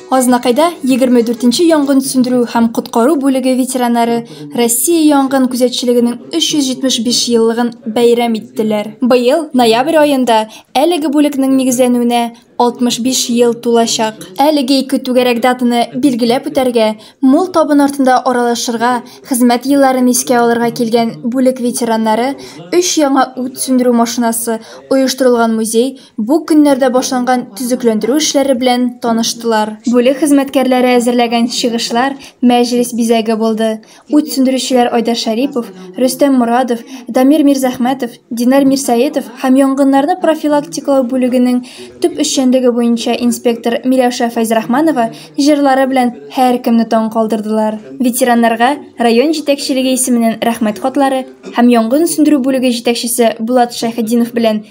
Азнакайда 24-нче янгын сүндерү һәм коткару бүлеге ветераннары Россия янгын күзәтчелегенең 375 еллыгын бәйрәм иттеләр. Быел ноябрь аенда әлеге бүлекнең нигезләнүенә 65 ел тулачак. Әлеге ике түгәрәк датаны билгеләп үтәргә, мул табын артында аралашырга, хезмәт елларын искә алырга килгән бүлек ветераннары өч яңа ут сүндерү машинасы, оештырылган музей, бу көннәрдә башланган төзекләндерү эшләре белән таныштылар. Бүлек хезмәткәрләре әзерләгән чыгышлар мәҗлес бизәге булды. Ут сүндерүчеләр Айдар Шәрипов, Рөстәм Морадов, Дамир Мирзәхмәтов, Динар Мирсәетов һәм янгыннарны профилактикалау бүлегенең төп эшчәнлеге буенча инспектор Миләүшә Фәйзрахманова җырлары белән һәркемне таң калдырдылар. Ветераннарга район җитәкчелеге исеменнән Рәхмәт хатлары һәм янгын сүндерү бүлеге җитәкчесе Булат Шәйхетдинов белән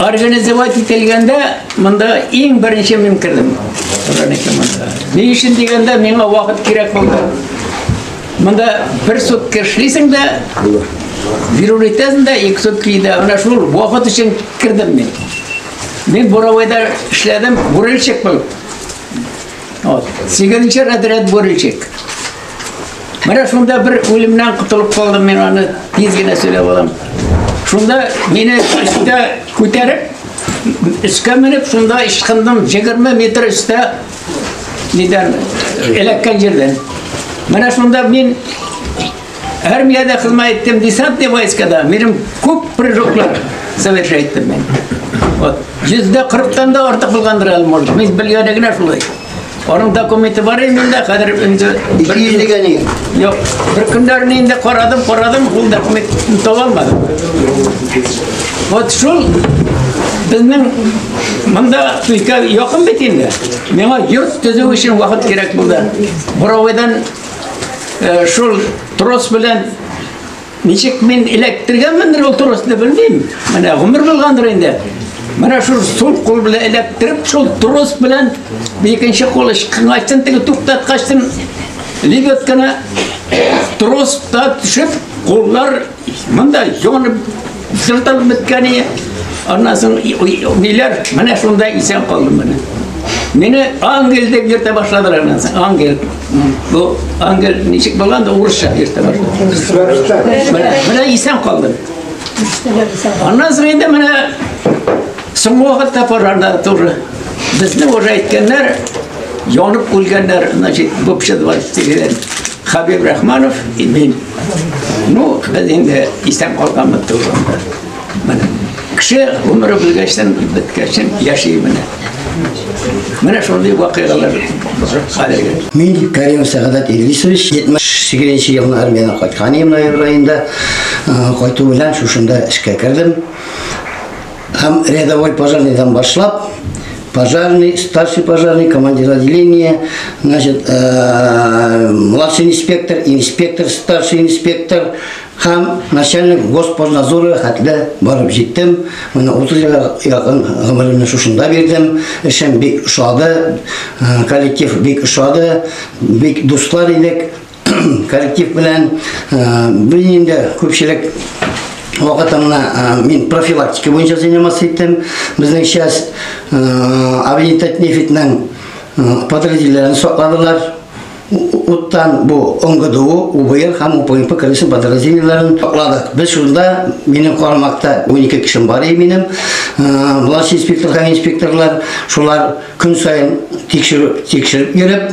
Организовать ителгәндә монда иң беренче мин кердем. Ни өчен дигәндә миңа вакыт кирәк булды. Монда бер сутка эшлисең дә, бирү итәсең дә, ике сутка иде. Менә шул вакыт өчен кердем мин. Мин Буровойда эшләдем, бурильщик булып. Вот. Сигезенче разряд бурильщик. Менә шунда бер үлемнән котылып калдым мин аны тиз генә сөйләп алам. Шунда мине өстә күтәреп, өскә менеп, шунда ычкындым 20 метр өстә Нидән? Эләккән җирдән. Менә шунда мин армиядә хезмәт иттем, десантный войскада. Минем күп прыжоклар совершать иттем мин. Вот. Йөздә кырыктан да артык булгандыр әле, может. Мин белгәне генә шулай. Аның документы бар иде миндә, хәзер инде бер иллегә ни. Юк, бер көндәрне инде карадым, карадым, ул документны таба алмадым. Вот шул безнең Монда көйкә якын бит инде. Миңа йорт төзү өчен вакыт кирәк булды. Буровойдан э, шул трос белән ничек мин эләктергән мендер ул тросны белмим. Менә гомер булгандыр инде. Менә шул сул кул белән эләктереп, шул трос белән икенче кул ышкын ачтым, теге туктаткачтым. Лебедканы тростан төшеп, куллар Монда җонып, җылтып беткән ие. Аннан соң ниләр, менә шунда исән калдым менә. Мине ангел дип йөртә башладылар аннан соң, ангел. Бу ангел ничек булган да урысча йөртә башлады. Менә исән калдым. Аннан соң инде менә соңгы вакытта парада туры. Безне уже әйткәннәр, янып үлгәннәр, значит, бупшыдылар, тигәләр. Хабиб Рахманов и мин. Ну, без инде истән калганбыз туганда. Менә кеше гомере белгәчтен беткәчтен яши менә. Менә шундый вакыйгалар хәзерге. Мин Карим Сәгадәт Идрисович 78 елны армияне кайткан идем ноябрь айында. Кайту белән шушында эшкә кердем. Һәм рядовой пожарныйдан башлап, пожарный, старший пожарный, командир отделения, значит, э, младший инспектор, инспектор, старший инспектор, һәм начальник госпознадзоры хәтле барып җиттем. Менә 30 елга якын гомеремне шушында бирдем. Эшем бик ошады, э, коллектив бик ошады, бик дуслар идек. коллектив белән без инде күпчелек вакытымны мин профилактика буенча заниматься иттем. Безнең часть авиатет нефитнең подразделениеләрен сакладылар. Уттан бу ОНГДУ, УБР һәм УПМП комиссия подразделениеләрен сакладык. Без шунда, минем карамакта 12 кешем бар иде минем. Власть инспектор һәм инспекторлар шулар көн саен тикшереп, тикшереп йөреп,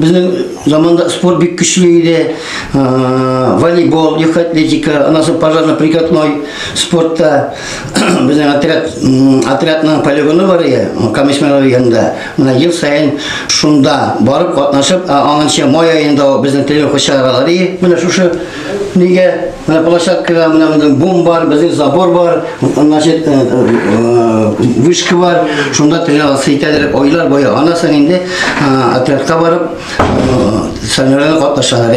Безнең заманда спорт бик көчле иде. Волейбол, легкая атлетика, аннан соң пожарно-прикатной спортта безнең отряд отрядның полигоны бар иде, Камешмәләр янында. Менә ел саен шунда барып катнашып, аннан май аенда безнең тренировка чаралары. Менә шушы Нигә? Менә площадкада менә безнең бум бар, безнең забор бар, значит, вышка бар. Шунда тренироваться итәләр. Айлар буе аннан соң инде отрядка барып, соревнованиеләргә катнашалар.